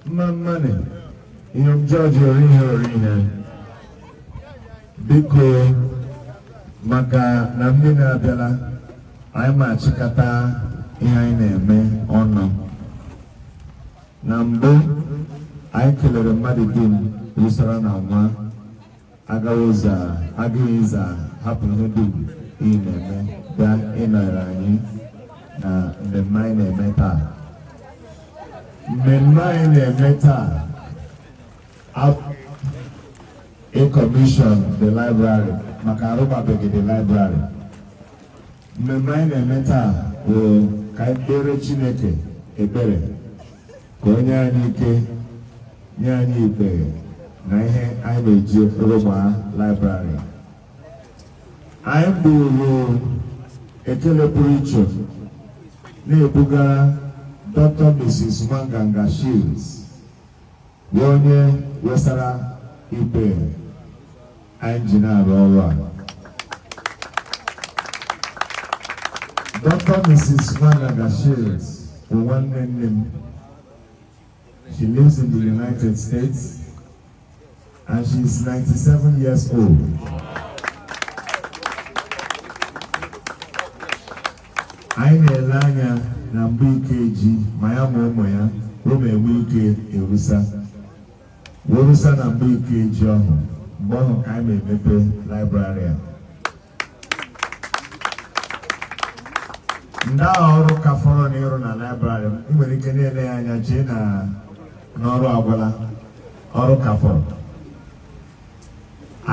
mma mma nị ihe jọji orihe orihe biko maka na mmiri abịala anyị ma achịkọta ihe anyị na-eme ọnụ na mbụ anyị kelere mmadụ dum rusara na nwa Agawoza Agụiza hapụ ihe dum ị na-eme bịa ịnọrọ anyị na mmemme anyị na-eme taa mmemme anyị na-eme taa ịkọmishọn the library maka arụgbabeghị the library mmemme anyị na-eme taa bụ ka anyị kpere Chineke ekpere ka o nye anyị ike nye anyị ikpe na ihe anyị ma-eji rụgba laịbrarị anyị buru ekele pụrụ iche na-ebugara Dr. Mrs. Nwanganga Shields bụ onye wesara ikpe anyị ji na-arụ ọrụ a Dr. Mrs. Nwanganga Shields bụ nwanne nne m she lives in the United States and she is 97 years old. anyị na-ele anya na mgbe Ikeji ma ya ma ụmụ ya o ma-enwe ike erusa werusa na mgbe Ikeji ọhụ mgbe ọhụ ka anyị ma-emepe laịbrarị a ndị agha ọrụ ka fọrọ na ịrụ na laịbrarị i nwere ike na-ele ya anya chee na ọrụ agwụla ọrụ ka fọrọ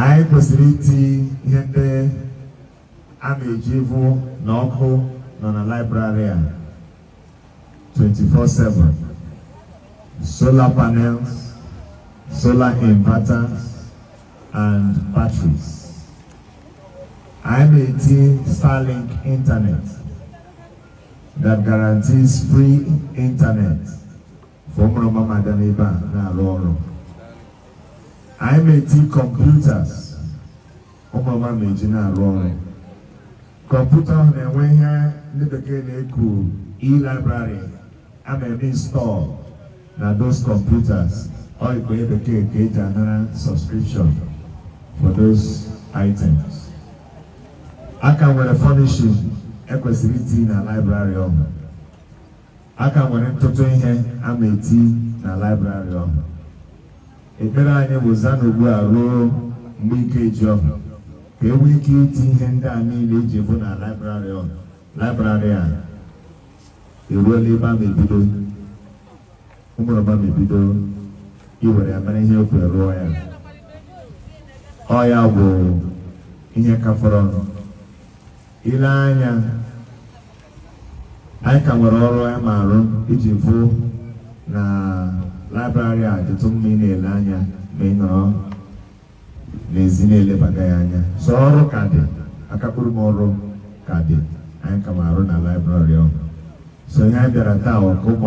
anyị kwesịrị iti ihe ndị A ma-eji vụ na ọkụ nọ na laịbrarị a 24/7 solar panels solar inverters and batteries anyị ma-eti Starlink internet that guarantees free internet for ụmụrụma ma-adị n'ebe a na-arụ ọrụ anyị ma-eti computers ụmụrụma ma-eji na-arụ ọrụ kọmputa ọhụ na-enwe ihe ndị bekee na-eku e-library a ma-eme install na those computers ọ ikpe bekee ka eji anara subscription for those items a ka nwere furnishing e kwesịrị iti na library ọhụ A ka nwere ntụtụ ihe a ma eti na laịbrarị ọhụ. Ekpere anyị bụ za n'ugbu a ruo mgbe Ikeji ọhụ ka e nwee ike iti ihe ndị a niile iji vụ na laịbrarị ọhụ laịbrarị a eruola ebe a ma ebido ụmụrụma ma ebido iwere ya mere ihe e kworo rụọ ya ọ ya bụ ihe ka fọrọnụ Ile anya anyị ka nwere ọrụ anyị ma arụ iji vụ na laịbrarị a dịtụ mma ị na-ele anya ma ị nọrọ n'ezi na-elebaga ya anya so ọrụ ka dị akakpụrụ m ọrụ ka dị anyị ka ma arụ na laịbrarị ọhụ so ihe anyị bịara taa ọkụ ụmụ